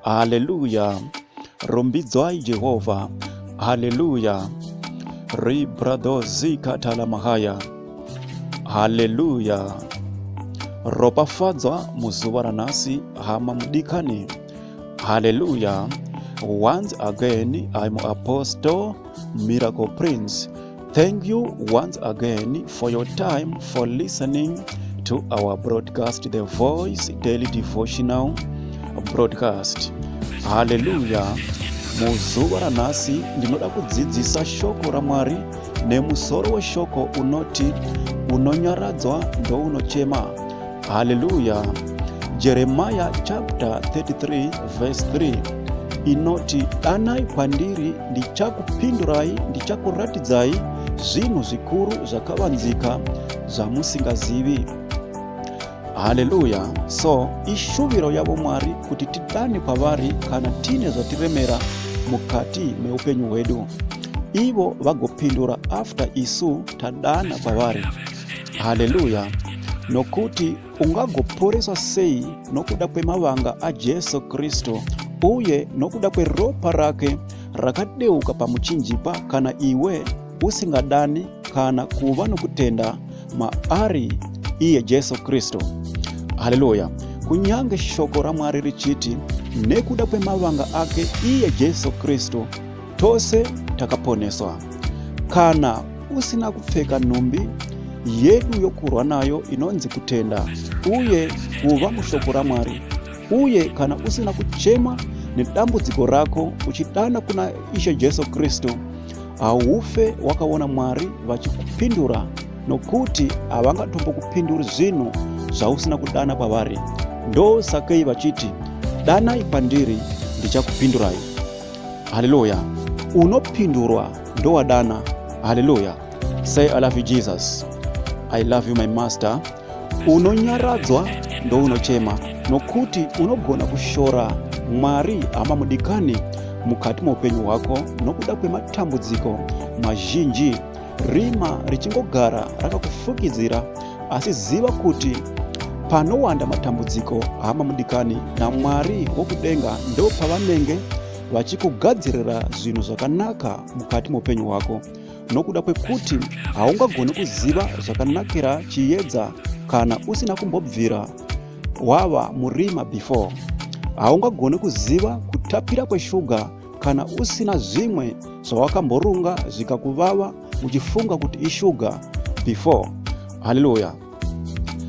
Hallelujah. Rumbidzwai Jehovha. Hallelujah. Ribradozi katalamahaya. Hallelujah. Ropafadzwa muzuva ranhasi hama mudikani. Hallelujah. Once again I'm Apostle Miracle Prince. Thank you once again for your time for listening to our broadcast, The Voice Daily Devotional Broadcast. Hallelujah. Muzuva ranhasi ndinoda kudzidzisa shoko raMwari nemusoro weshoko unoti unonyaradzwa ndounochema. Haleluya. Jeremiah chapter 33 verse 3 inoti, Danai kwandiri, ndichakupindurai, ndichakuratidzai zvinhu zvikuru zvakavanzika zvamusingazivi. Haleluya. So, ishuviro yavo Mwari kuti tidane kwavari kana tiine zvatiremera mukati meupenyu hwedu. Ivo vagopindura after isu tadana kwavari. haleluya nokuti ungagoporeswa sei nokuda kwemavanga ajesu kristu uye nokuda kweropa rake rakadeuka pamuchinjikwa kana iwe usingadani kana kuva nokutenda maari iye jesu kristu haleluya kunyange shoko ramwari richiti nekuda kwemavanga ake iye jesu kristu Tose takaponeswa. Kana usina kupfeka nhumbi yedu yokurwa nayo inonzi kutenda uye kuva mushoko raMwari, uye kana usina kuchema nedambudziko rako uchidana kuna Ishe Jesu Kristu, haufe wakaona Mwari vachikupindura, nokuti havangatombokupinduri zvinhu zvausina kudana kwavari. Ndosakei vachiti, Danai kwandiri, ndichakupindurai. haleluya unopindurwa ndowadana haleluya say i love you jesus i love you my master unonyaradzwa ndounochema nokuti unogona kushora mwari hama mudikani mukati moupenyu hwako nokuda kwematambudziko mazhinji Rima richingogara rakakufukidzira asi ziva kuti panowanda matambudziko hama mudikani namwari wokudenga ndo pavanenge vachikugadzirira zvinhu zvakanaka mukati meupenyu hwako nokuda kwekuti haungagoni kuziva zvakanakira chiyedza kana usina kumbobvira wava murima before haungagoni kuziva kutapira kweshuga kana usina zvimwe zvawakamborunga zvikakuvava uchifunga kuti ishuga before haleluya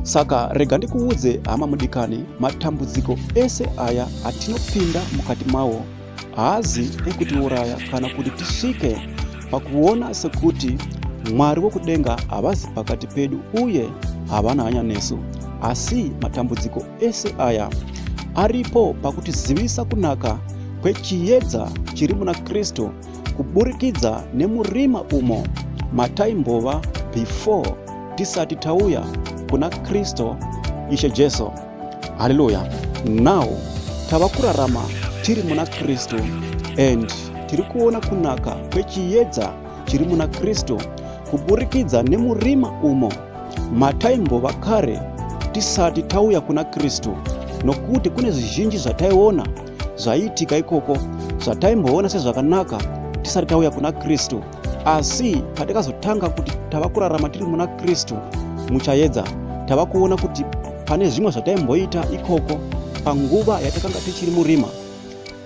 saka rega ndikuudze hama mudikani matambudziko ese aya atinopinda mukati mawo haazi ekutiuraya kana kuti tisvike pakuona sekuti mwari wokudenga havazi pakati pedu uye havana hanya nesu asi matambudziko ese aya aripo pakutizivisa kunaka kwechiyedza chiri muna Kristu kuburikidza nemurima umo mataimbova before tisati tauya kuna Kristu Ishe Jesu. Haleluya! Now tava kurarama tiri muna Kristu and tiri kuona kunaka kwechiyedza chiri muna Kristu kuburikidza nemurima umo mataimbova kare tisati tauya kuna Kristu nokuti kune zvizhinji zvataiona zvaiitika ikoko zvataimboona sezvakanaka tisati tauya kuna Kristu asi patikazotanga kuti tava kurarama tiri muna Kristu muchayedza tava kuona kuti pane zvimwe zvataimboita ikoko panguva yatakanga tichiri murima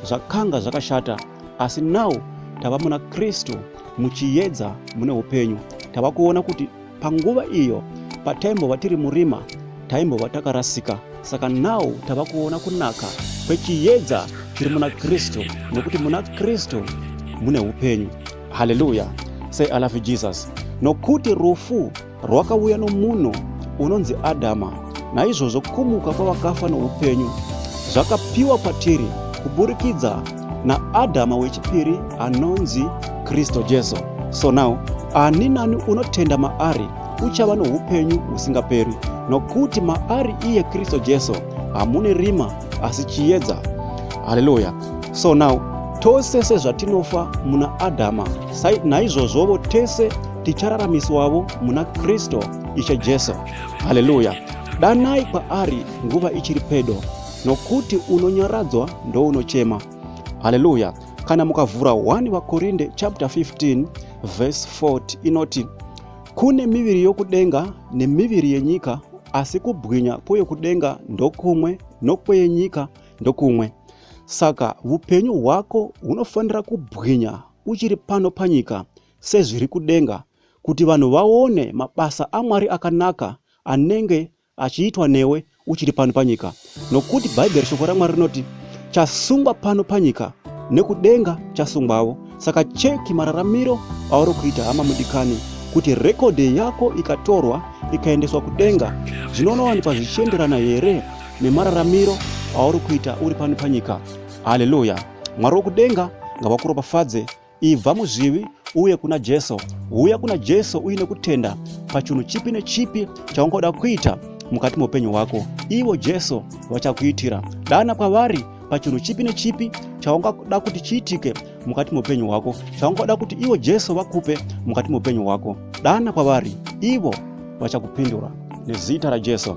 zvakanga zvakashata asi now tava muna kristu muchiyedza mune upenyu tava kuona kuti panguva iyo pataimbova tiri murima taimbova takarasika saka now tava kuona kunaka kwechiyedza chiri muna kristu nokuti muna kristu mune upenyu haleluya say i love you jesus nokuti rufu Rwakauya nomunhu unonzi Adhama, naizvozvo kumuka kwavakafa noupenyu zvakapiwa kwatiri kuburikidza naAdhama wechipiri anonzi Kristu Jesu. So now ani nani unotenda maari uchava noupenyu husingaperi, nokuti maari iye Kristu Jesu hamune rima asi chiedza. Haleluya! So now tose sezvatinofa muna Adhama, naizvozvovo tese tichararamiswavo muna Kristu Ishe Jesu. Haleluya! Danai kwaari nguva ichiri pedo, nokuti unonyaradzwa ndounochema. Haleluya! Kana mukavhura 1 Vakorinde chapter 15 verse 40 inoti kune miviri yokudenga nemiviri yenyika, asi kubwinya kweyokudenga ndokumwe nokweyenyika ndokumwe. Saka vupenyu hwako hunofanira kubwinya uchiri pano panyika sezviri kudenga kuti vanhu vaone mabasa aMwari akanaka anenge achiitwa newe uchiri pano panyika nokuti bhaibheri shoko ramwari rinoti chasungwa pano panyika nekudenga chasungwavo saka cheki mararamiro auri kuita hama mudikani kuti rekodhi yako ikatorwa ikaendeswa kudenga zvinonowanikwa zvichienderana here nemararamiro auri kuita uri pano panyika haleluya mwari wokudenga ngavakuropafadze Ibva muzvivi uye kuna Jesu. Huya kuna Jesu uine kutenda pachinhu chipi nechipi chaungoda kuita mukati meupenyu hwako. Ivo Jesu vachakuitira. Dana kwavari pachinhu chipi nechipi chaungoda kuti chiitike mukati meupenyu hwako, chaungoda kuti ivo Jesu vakupe mukati meupenyu hwako. Dana kwavari, ivo vachakupindura nezita raJesu.